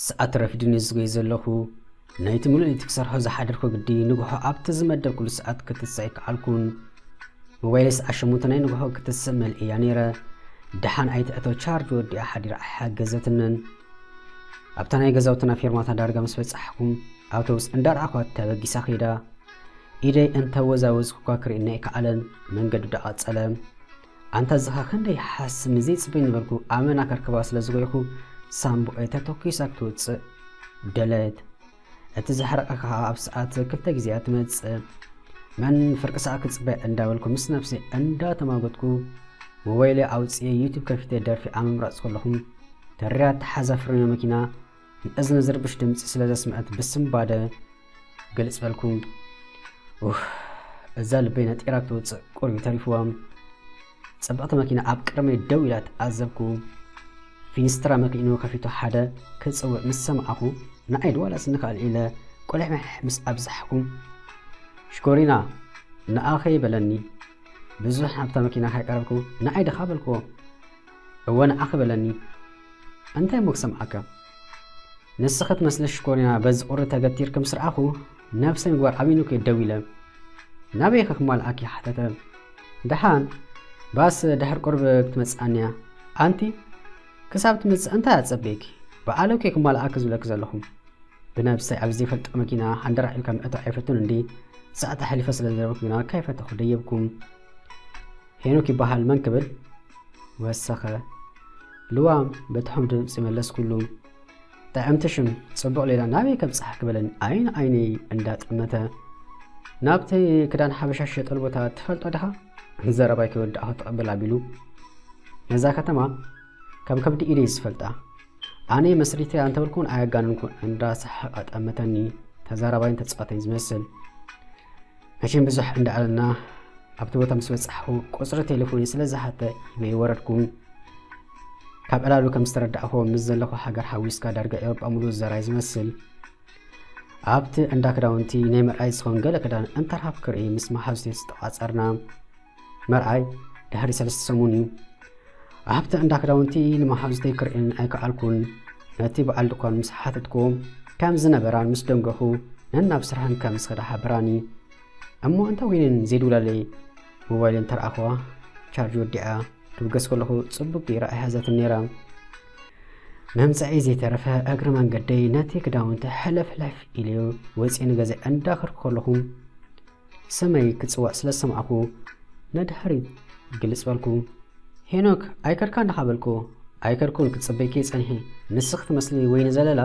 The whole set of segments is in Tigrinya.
ሰዓት ረፍድን ዝጎይ ዘለኹ ናይቲ ምሉእ እቲ ክሰርሖ ዝሓደርኩ ግዲ ንግሆ ኣብቲ ዝመደብኩሉ ሰዓት ክትስዕ ይከኣልኩን ሞባይለይስ ኣሸሙንተ ናይ ንግሆ ክትስእ መልእያ ነይረ ደሓን ኣይትእተው ቻርጅ ወዲኣ ሓዲራ ኣይሓገዘትንን ኣብታ ናይ ገዛውትና ፌርማታ ዳርጋ ምስ በጻሕኩም ኣውቶቡስ እንዳርኣኳት ተበጊሳ ከይዳ ኢደይ እንተወዛወዝኩኳ ክርእየኒ ኣይከኣለን መንገዱ ዳቐጸለ ኣንታ ዝኻ ክንደይ ሓስ ንዘይ ጽበይ ነበርኩ ኣመና ከርክባ ስለ ዝጎይኹ ሳምቡኤ ተተኪሳ ክትውጽእ ደለት እቲ ዝሓረቐ ከዓ ኣብ ሰዓት ክልተ ግዜያ ትመጽእ መን ፍርቂ ሰዓት ክፅበ እንዳበልኩ ምስ ነብሲ እንዳተማጎትኩ ሞባይለይ ኣውፅኤ ዩቱብ ከፊተ ደርፊ ኣምምራፅ ከለኹም ተሪያ ተሓዛ ፍርሚ መኪና ንእዝኒ ዝርብሽ ድምፂ ስለ ዘስምዐት ብስምባደ ግልፅ በልኩም እዛ ልበይ ነጢራ ክትውፅእ ቁርቢ ተሪፍዎም ጽብቕቲ መኪና ኣብ ቅድመይ ደው ኢላ ተዓዘብኩ። ፊኒስትራ መኪኑ ከፊቱ ሓደ ክጽውዕ ምስ ሰማዕኹ ንዓይ ድዋላስ ንካልእ ኢለ ቁልሕምሕ ምስ ኣብዛሕኩ ሽኮሪና ንኣኸይ በለኒ። ብዙሕ ኣብታ መኪና ካይቀረብኩ ንዓይ ድኻ በልክዎ። እወ ንዓኺ በለኒ። እንታይ እሞ ክሰምዓካ ንስኺ ትመስሊ ሽኮሪና በዚ ቁሪ ተገቲርኪ ምስ ረኣኹ ነብሰ ምግባር ኣሚኑኪ ደው ኢለ ናበይ ከክማልኣኪ ሓተተ ደሓን ባስ ድሕር ቁርብ ክትመጽኣኒያ ኣንቲ ክሳብ ትመጽእ እንታይ ኣጸበይኪ ብኣለ ኬ ክማልኣኪ ዝብለኪ ዘለኹም ብነብሰይ ኣብ ዘይፈልጦ መኪና ሃንደራ ኢልካ ምእቶ ኣይፈቱን እንዲ ሰዓት ኣሕሊፈ ስለ ዝነበርኩ ግና ካይፈተኹ ደየብኩም ሄኖክ ይበሃል መን ክብል ወሰኸ ልዋም በትሖም ድምፂ መለስኩሉ ጥዕምቲ ሽም ጽቡቕ ሌላ ናበይ ከብጽሓኪ በለን ዓይኒ ዓይኒ እንዳጠመተ ናብቲ ክዳን ሓበሻ ዝሸጠሉ ቦታ ትፈልጦ ድኻ ዘረባይ ከይወዳእኹ ትቕብል ኣቢሉ ነዛ ከተማ ከም ከብዲ ኢደይ ዝፈልጣ ኣነ መስሪተ ኣንተበልኩን ኣያጋንንኩን እንዳሰሓቐ ጠመተኒ ተዛራባይን ተጻዋተይን ዝመስል መቸም ብዙሕ እንዳኣለና ኣብቲ ቦታ ምስ በጻሕኹ ቁጽሪ ቴሌፎኒ ስለ ዝሓተ ኢበይ ወረድኩም ካብ ዕላሉ ከም ዝተረዳእኹዎ ምስ ዘለኹ ሃገር ሓዊስካ ዳርጋ ኤውሮጳ ሙሉእ ዘራይ ዝመስል ኣብቲ እንዳ ክዳውንቲ ናይ መርኣይ ዝኸውን ገለ ክዳን እንተርሃብ ክርኢ ምስ መሓዙቴ ዝተቋጸርና መርኣይ ድሕሪ ሰለስተ ሰሙን እዩ ኣብቲ እንዳ ክዳውንቲ ንመሓዙተይ ክርእን ኣይከኣልኩን ነቲ በዓል ድኳን ምስ ሓተትኩ ከም ዝነበራን ምስ ደንገኹ ነናብ ስራሕን ከም ዝኸዳ ሓበራኒ እሞ እንተ ወይንን ዘይድውላለይ ሞባይልን ተረኣኸዋ ቻርጅ ወዲኣ ድብገስ ከለኹ ጽቡቅ ገይራ ኣይሓዘትን ነይራ መምፀዒ ዘይተረፈ እግሪ መንገደይ ነቲ ክዳውንቲ ሕለፍሕለፍ ኢልዮ ወፂ ንገዛ እንዳኸርኩ ከለኹ ሰመይ ክጽዋዕ ስለ ዝሰማዕኩ ነድሕሪት ግልጽ በልኩ። ሄኖክ ኣይከድካን ድኻ በልኩ። ኣይከድኩን ክጽበይኪ ጸኒሐ ንስኺ ትመስሊ ወይኒ ዘለላ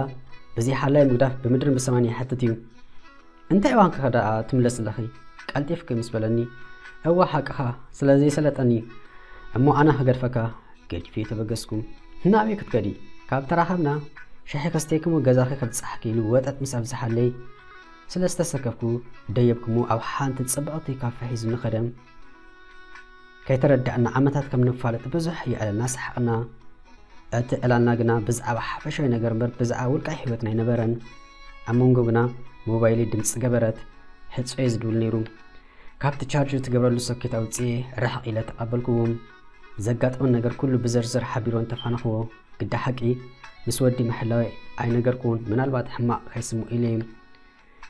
እዚ ሓላይ ምግዳፍ ብምድርን ብሰማይን ይሓትት እዩ እንታይ እዋን ከኸዳኣ ትምለስለኺ ቀልጢፍኪ ምስ በለኒ እወ ሓቅኻ ስለ ዘይሰለጠኒ እሞ ኣነ ክገድፈካ ገዲፌ ተበገስኩ ናበይ ክትከዲ ካብ ተራኸብና ሻሒ ከስተይክሞ ገዛኺ ከብጽሓኪ ኢሉ ወጠጥ ምስ ኣብዝሓለይ ስለ ዝተሰከፍኩ ደየብኩሞ ኣብ ሓንቲ ጽብቕቲ ካፈ ሒዙኒ ከደ። ከይተረዳእና ዓመታት ከም ንፋለጥ ብዙሕ የዕለልና ሰሓቕና። እቲ ዕላልና ግና ብዛዕባ ሓፈሻዊ ነገር እምበር ብዛዕባ ውልቃዊ ህይወትና ኣይነበረን። ኣብ መንጎ ግና ሞባይለይ ድምፂ ገበረት። ሕጾየ ዝድውል ነይሩ። ካብቲ ቻርጅ ትገብረሉ ሶኬት ኣውጽኤ ርሕቕ ኢለ ተቐበልኩዎ። ዘጋጠመ ነገር ኩሉ ብዝርዝር ሓቢሮ እንተፋነኽዎ ግዳ ሓቂ ምስ ወዲ ምሕላወይ ኣይነገርክዎን ምናልባት ሕማቕ ከይስምዑ ኢለ እዩ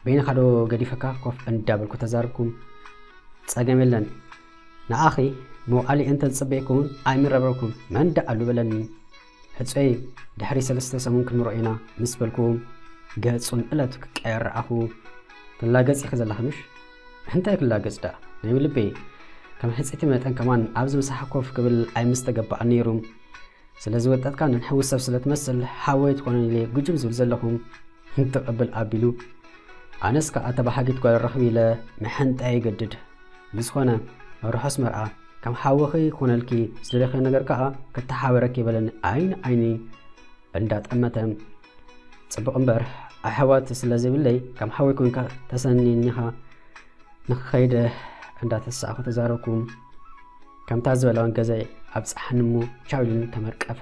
በይንኻ ዶ ገዲፈካ ኮፍ እንዳበልኩ ተዛርብኩም ጸገም የለን ንኣኺ መውዓሊ እንተ ዝጽበየኩውን ኣይምረብረብኩም መን ደኣሉ በለኒ ሕጸይ ድሕሪ ሰለስተ ሰሙን ክንርኦ ኢና ምስ በልኩ ገጹን እለቱ ክቀየር ረኣኹ። ትላገጽ ኢኺ ዘለኺ ምሽ? እንታይ ክላገጽ ደኣ ናይ ውልበይ ከም ሕጽይቲ መጠን ከማን ኣብዚ ምሳሓ ኮፍ ክብል ኣይምስተገባኣን ነይሩ። ስለዚ ወጠጥካ ንንሕዊ ሰብ ስለ ትመስል ሓወይ ትኾነን ኢለ ጉጅም ዝብል ዘለኹ ተቐብል ኣቢሉ ኣነስ ከኣ ተባሓጊት ጓል ረኽቢ ኢለ መሐንጣ ይገድድ ብዝኾነ ርሑስ መርዓ ከም ሓውኺ ይኹነልኪ ዝደለኺዮ ነገር ከዓ ክተሓበረኪ በለኒ ዓይኒ ዓይኒ እንዳጠመተ ፅቡቕ እምበር ኣሕዋት ስለ ዘይብለይ ከም ሓወይ ኮንካ ተሰኒኒኻ ንክኸይደ እንዳተሳእኹ ተዛረብኩ ከምታ ዝበላውን ገዛይ ኣብፀሓኒ እሞ ቻው ኢሉኒ ተመርቀፈ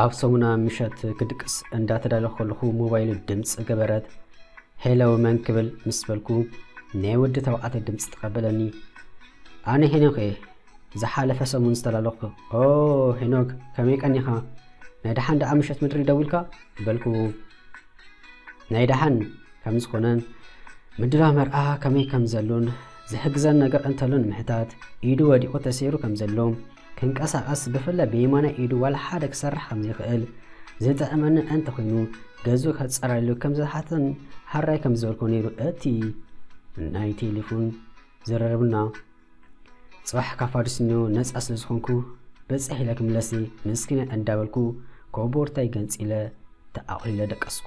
ኣብ ሰሙና ምሸት ክድቅስ እንዳተዳለኹ ከለኹ ሞባይሉ ድምፂ ገበረት። ሄሎ መን ክብል ምስ በልኩ ናይ ወዲ ተባዕታይ ድምፂ ተቐበለኒ። ኣነ ሄኖክ እየ ዝሓለፈ ሰሙን ዝተላለኹ። ኦ ሄኖክ ከመይ ቀኒኻ? ናይ ደሓን ደኣ ምሸት ምድሪ ደዊልካ በልኩ። ናይ ደሓን ከም ዝኾነን ምድላው መርዓ ከመይ ከም ዘሎን ዝሕግዘን ነገር እንተሎ ንምሕታት ኢዱ ወዲቑ ተሰይሩ ከም ዘሎ ክንቀሳቐስ ብፍላይ ብየማናይ ኢዱ ዋላ ሓደ ክሰርሕ ከም ዘይክእል ዝጥዕመኒ እንተ ኮይኑ ገዙ ከጸረሉ ከም ዝሓተን ሃራይ ከም ዝበልኮ ነይሩ እቲ ናይ ቴሌፎን ዝረረብና ጽባሕ ካብ ፋዱስኞ ነጻ ስለ ዝኾንኩ በጽሕ ኢለ ክምለሲ ምስኪነ እንዳበልኩ ኮቦርታይ ገንጺለ ተኣኺለ ደቀስኩ።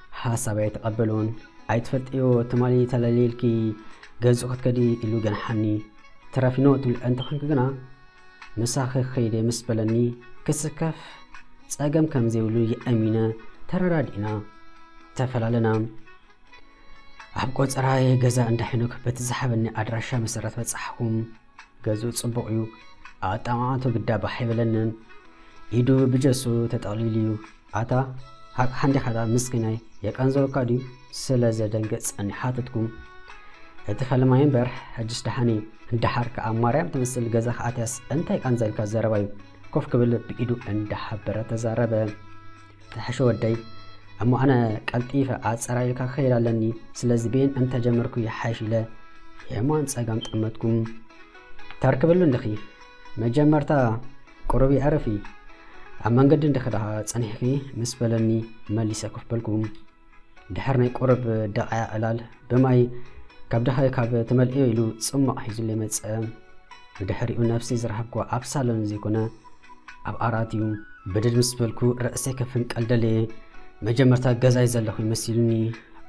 ሓሳብ ኣይተቐበሎን። ኣይትፈልጥዮ ትማሊ ተለሊልኪ ገዝኡ ክትከዲ ኢሉ ገንሓኒ። ትረፊኖ ትብል እንተኾንኪ ግና ምሳኺ ክኸይደ ምስ በለኒ ክስከፍ ጸገም ከም ዘይብሉ የእሚነ ተረዳዲእና ተፈላለና። ኣብ ቆፀራይ ገዛ እንዳ ሄኖክ በቲ ዝሓበኒ ኣድራሻ መሰረት በጻሕኹም። ገጹ ጽቡቕ እዩ፣ ኣጠማምታኡ ግዳ ባሕ ኣይበለንን፣ ኢዱ ብጀሱ ተጠቕሊሉ እዩ። ኣታ ሃቅሓ እንዲኻ ድኣ ምስኪናይ፣ የቀንዘወካ ድዩ? ስለ ዘደንግጽ ጸኒሕ ሓተትኩ። እቲ ፈለማይ እምበር ሕጅስ ደሓን እዩ። ደሓር ከኣ ማርያም ትመስል ገዛ ከኣትያስ እንታይ ቃንዘልካ ዘረባ እዩ። ኮፍ ክብል ብኢዱ እንዳሓበረ ተዛረበ። ተሐሸ ወደይ እሞ ኣነ ቀልጢፈ ኣፀራሪልካ ክኸይድ ኣለኒ ስለዚ ቤን እንተጀመርኩ ይሓይሽ ኢለ የማን ፀጋም ጠመትኩም ተርክብሉ እንድኺ መጀመርታ ቁሩብ ይዕረፊ ኣብ መንገዲ እንድኺ ደኣ ፀኒሕኺ ምስ በለኒ መሊሰ ኮፍ በልኩ ድሕር ናይ ቁርብ ደቓያ ዕላል ብማይ ካብ ድሃይ ካብ ተመልእዮ ኢሉ ጽሟቕ ሒዙለይ መጸ። ብድሕሪኡ ነፍሲ ዝረሃብኩ ኣብ ሳሎን ዘይኮነ ኣብ ኣራት እዩ። ብድድ ምስ በልኩ ርእሰይ ከፍንቀል ደለየ። መጀመርታ ገዛይ ዘለኹ ይመሲሉኒ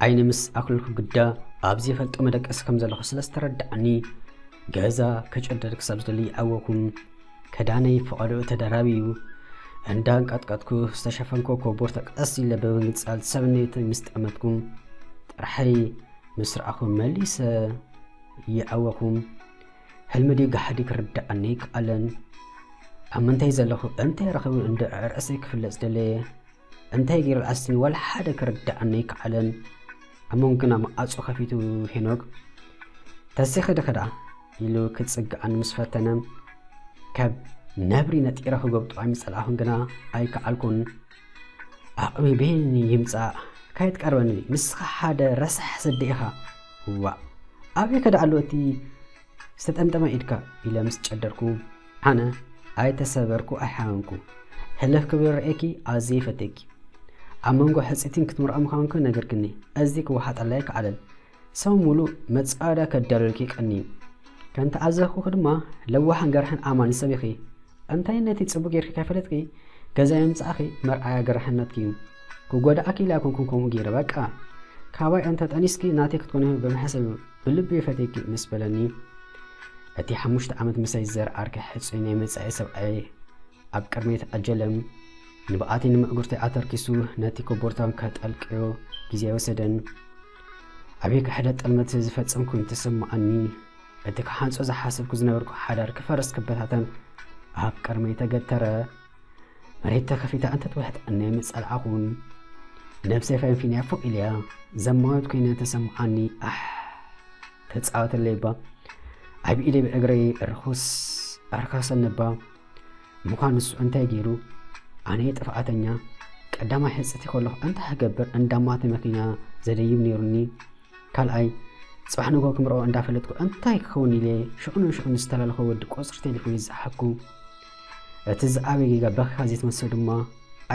ዓይኒ ምስ ኣክልኩ ግዳ ኣብዚ ፈልጦ መደቀሲ ከም ዘለኹ ስለ ዝተረድዓኒ ገዛ ክጭደድ ክሳብ ዝደሊ ይዓወኩም። ከዳነይ ፈቐድኡ ተደራቢዩ እንዳ ኣንቀጥቀጥኩ ዝተሸፈንኮ ኮቦርታ ቀስ ኢለ ብምንጻል ሰብነይተይ ምስ ጠመትኩም ጥራሐይ ምስ ረኣኹም መሊሰ ይዐወኹም ሕልሚ ድዩ ጋሕዲ ክርዳኣኒ ኣይከኣለን ኣብ ምንታይ ዘለኹ እንታይ ረኽቢ እንዶ ዕርዕሰይ ክፍለጽ ደለየ እንታይ ጌሩ ኣስኒ ዋላ ሓደ ክርድኣኒ ኣይከኣለን ኣብ መንጎና መኣጹ ከፊቱ ሄኖክ ተሲኺ ድኺ ደኣ ኢሉ ክጽግኣኒ ምስ ፈተነ ካብ ነብሪ ነጢረ ክገብጦ ኣይምጸላእኹን ግና ኣይከኣልኩን ኣቕሚ ቤኒ ይምጻእ ከይትቀርበኒ ንስኻ ሓደ ረሳሕ ስዲ ኢኻ ዋእ ኣበይ ከደኣሉ እቲ ዝተጠምጠመ ኢድካ ኢለ ምስ ጨደርኩ ኣነ ኣይተሰበርኩ ኣይሓመምኩ ሕልኽ ክብል ርኤኪ ኣዝየ ይፈትየኪ ኣብ መንጎ ሕፅቲን ክትምርዖ ምዃንኩ ነገርክኒ እዚ ክወሓጠላይ ክዓለል ሰው ሙሉእ መፃወዳ ከዳልወልኪ ቀንዩ ከም ተዓዘኽኩ ድማ ለዋሕን ገርሕን ኣማኒ ሰብ ኢኺ እንታይ ነቲ ፅቡቅ ጌርኪ ከይፈለጥኪ ገዛ የምፃእኺ መርኣያ ገርሕነትኪ እዩ ክጎዳእኪ ኢላ ኮንኩም ከምኡ ገይረ በቃ ካባይ እንተ ጠኒስኪ ናተይ ክትኮኒ ብምሕሰብ እዩ ብልበይ ፈትየኪ ምስ በለኒ እቲ ሓሙሽተ ዓመት ምሳይ ዝዘርኣርኪ ሕጹይ ናይ መጻኢ ሰብኣየይ ኣብ ቅድመይ ተዓጀለም ንብኣተይ ንምዕጉርተይ ኣተርኪሱ ነቲ ኮቦርታን ከጠልቅዮ ግዜ ኣይወሰደን ኣበይ ክሕደ ጥልመት ዝፈጸም ኮይኑ ተሰማዓኒ እቲ ክሓንጾ ዝሓሰብኩ ዝነበርኩ ሓዳር ክፈርስ ክበታተን ኣብ ቅድመይ ተገተረ መሬት ተኸፊታ እንተትውሕጠኒ ምጸላኣኹን ነብሰይ ፈንፊንያ ፎእ ኢልያ ዘማወት ኮይነ ተሰምዓኒ ኣሕ ተጻወተለይ እባ ኣብ ኢደይ ብእግረይ ርኹስ ኣርካሰኒ እባ ምዃን ንሱ እንታይ ገይሩ ኣነ ጥፍኣተኛ ቀዳማይ ሕፅቲ ከለኹ እንታይ ክገብር እንዳማተ መኪና ዘደይብ ነይሩኒ ካልኣይ ጽባሕ ንግሆ ክምርዖ እንዳፈለጥኩ እንታይ ክኸውን ኢለ ሽዑ ንሽዑ ምስ ዝተላለኾ ወዲ ቁጽሪ ቴሌፎነይ ዝጸሓፍኩ። እቲ ዝዓበየ ጌጋ በኺኻ ዘይትመልሶ ድማ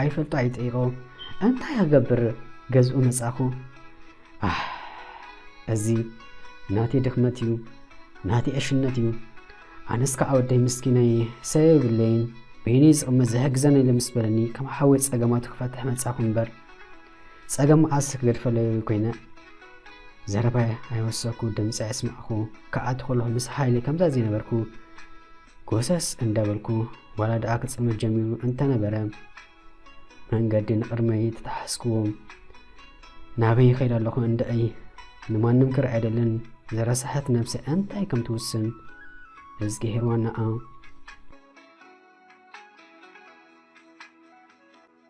ኣይፈልጦ ኣይጠይቆ እንታይ ክገብር ገዝኡ መጻኹ። ኣህ እዚ ናተይ ድኽመት እዩ፣ ናተይ ዕሽነት እዩ። ኣነስ ከዓ ወደይ ምስኪነይ ሰብ የብለይን በይነይ ዝቕመጥ ዝሕግዘኒ ኢለ ምስ በለኒ ከም ሓወይ ጸገማቱ ክፈትሕ መጻኹ እምበር ጸገም መዓስ ክገድፈለይ ኮይነ ዘረባይ ኣይወሰኩ ድምፂ ኣይስማዕኩ ክኣቱ ከለኹ ምስ ሓይሊ ከምዛ ዘይነበርኩ ጎሰስ እንዳበልኩ ዋላ ደኣ ክፅልመት ጀሚሩ እንተነበረ መንገዲ ንቕድመይ ተታሓስክዎ ናበይ ይኸይድ ኣለኹ እንደይ ንማንም ክር ኣይደልን ዘረሳሐት ነብሰ እንታይ ከም ትውስን እዝጊሄር ዋናኣ